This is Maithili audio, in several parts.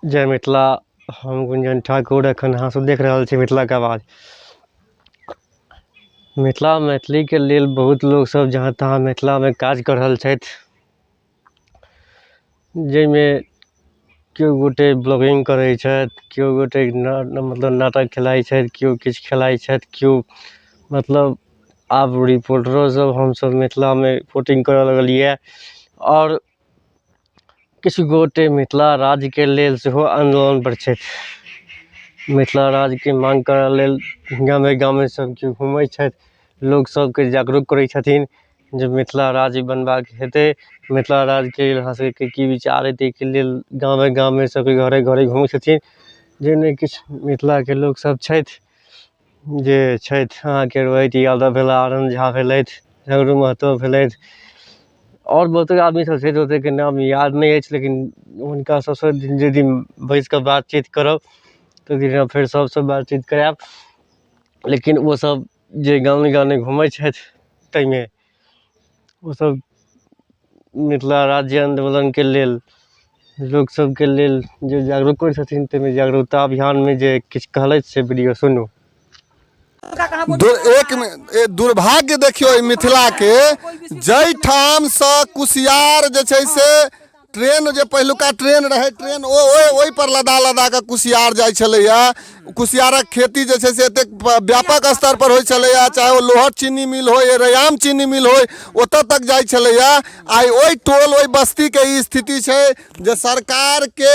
जय मिथिला हम गुंजन ठाकुर एखन अहाँ सब देख रहल छी मिथिला के आवाज मिथिला मैथिली के लेल बहुत लोग सब जहाँ तहाँ मिथिला मे काज कऽ रहल छथि जाहिमे केओ गोटे ब्लॉगिंग करै छथि केओ गोटे ना मतलब नाटक खेलाइ छथि केओ किछु खेलाइ छथि केओ मतलब आब रिपोर्टरो सब हमसब मिथिला मे रिपोर्टिंग करऽ लगलिया आओर किछु गोटे मिथिला राज्यके लेल सेहो आन्दोलनपर छथि मिथिला राज्यके माँग करऽ लेल गामे गामे सब केओ घुमय छथि लोक सबके जागरूक करय छथिन जे मिथिला राज्य बनबाक हेतय मिथिला राज्यके लेल हमरा सबके की विचार अइ तैके लेल गामे गामे सबके घरे घरे घुमय छथिन जाहिमे किछु मिथिलाके लोक सब छथि जे छथि अहाँके रोहित यादव भेला आनन्द झा भेलथि सगरो महतो भेलथि आओर बहुते आदमी सब छथि ओतेके नाम याद नहि अछि लेकिन हुनका सबसँ जे दिन बैस कऽ बातचीत करब तऽ ओइ दिना फेर सबसँ बातचीत करायब लेकिन ओ सब जे गाने गाने घुमय छथि तैमे ओसभ मिथिला राज्य आन्दोलनके लेल लोक सभके लेल जे जागरूक करै छथिन ताहिमे जागरूकता अभियानमे जे किछु कहलथि से वीडियो सुनू दुर, एक मि- ए, दुर्भाग्य देखियौ एहि मिथिलाके जाहिठामसँ कुसियार जे छै से ट्रेन जे पहिलुका ट्रेन रहै ट्रेन ओ ओहि ओहि पर लदा लदा कऽ कुसियार जाइ छलैया कुसियारक खेती जे छै से एतेक प- व्यापक स्तर पर होइ छलैया चाहे ओ लोहट चीनी मिल होय या रयाम चीनी मिल होय ओतऽ तक जाइ छलैया आइ ओहि टोल ओहि बस्ती के ई स्थिति छै जे सरकार के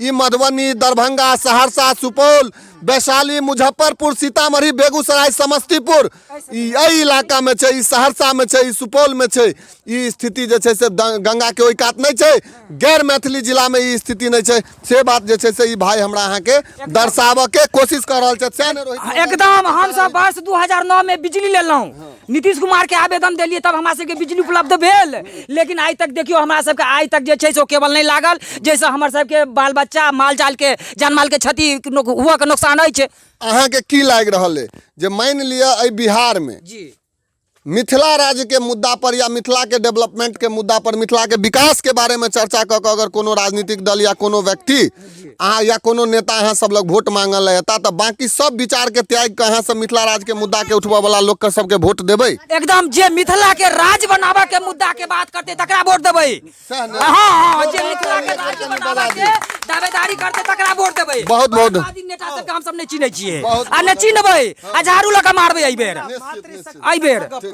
ई मधुबनी दरभंगा सहरसा सुपौल वैशाली मुजफ्फरपुर सीतामढ़ी बेगूसराय समस्तीपुर ई एहि इलाकामे छै ई सहरसामे छै ई सुपौलमे छै ई स्थिति जे छै से द- गंगाके ओहि कात नहि छै गैर मैथिली जिलामे ई स्थिति नहि छै से बात जे छै से ई भाय हमरा अहाँके दर्शाबऽके कोशिश कऽ रहल छथि सएह ने रोहित एकदम हमसब वर्ष 2009 में बिजली लेलहुँ नीतीश कुमार के आवेदन देलियै तब हमरा सबके बिजली उपलब्ध भेल लेकिन आइ तक देखियौ हमरा सबके आइ तक जे छै से ओ केबल नहि लागल जाहिसँ हमर सबके बाल बच्चा माल जालके जान मालके क्षति हुअके नोकसान अछि अहाँके की लागि रहल अइ जे मानि लिअ एहि बिहारमे जी मिथिला राज्यके मुद्दा पर या मिथिलाके डेवलपमेंटके मुद्दा पर मिथिलाके विकासके बारेमे चर्चा कऽ कऽ अगर कोनो राजनीतिक दल या कोनो व्यक्ति अहाँ या कोनो नेता अहाँ सब लग वोट मांगल है एता तऽ बाकी सब विचार के त्याग के अहाँ सब मिथिला राज के मुद्दा के उठबऽ वाला लोग के सबके वोट देबै एकदम जे मिथिला के राज बनाबे के मुद्दा के बात करते तकरा वोट देबै सएह ने। हाँ हाँ जे मिथिला के राज बनाबे के दावेदारी करते तकरा वोट देबै बहुत- बहुत। आदि नेता सबके हम सब नहि चिन्है छियै बहुत- आ नहि चिन्हबै आ झाड़ू लऽ कऽ मारबै एहि बेर एहि बेर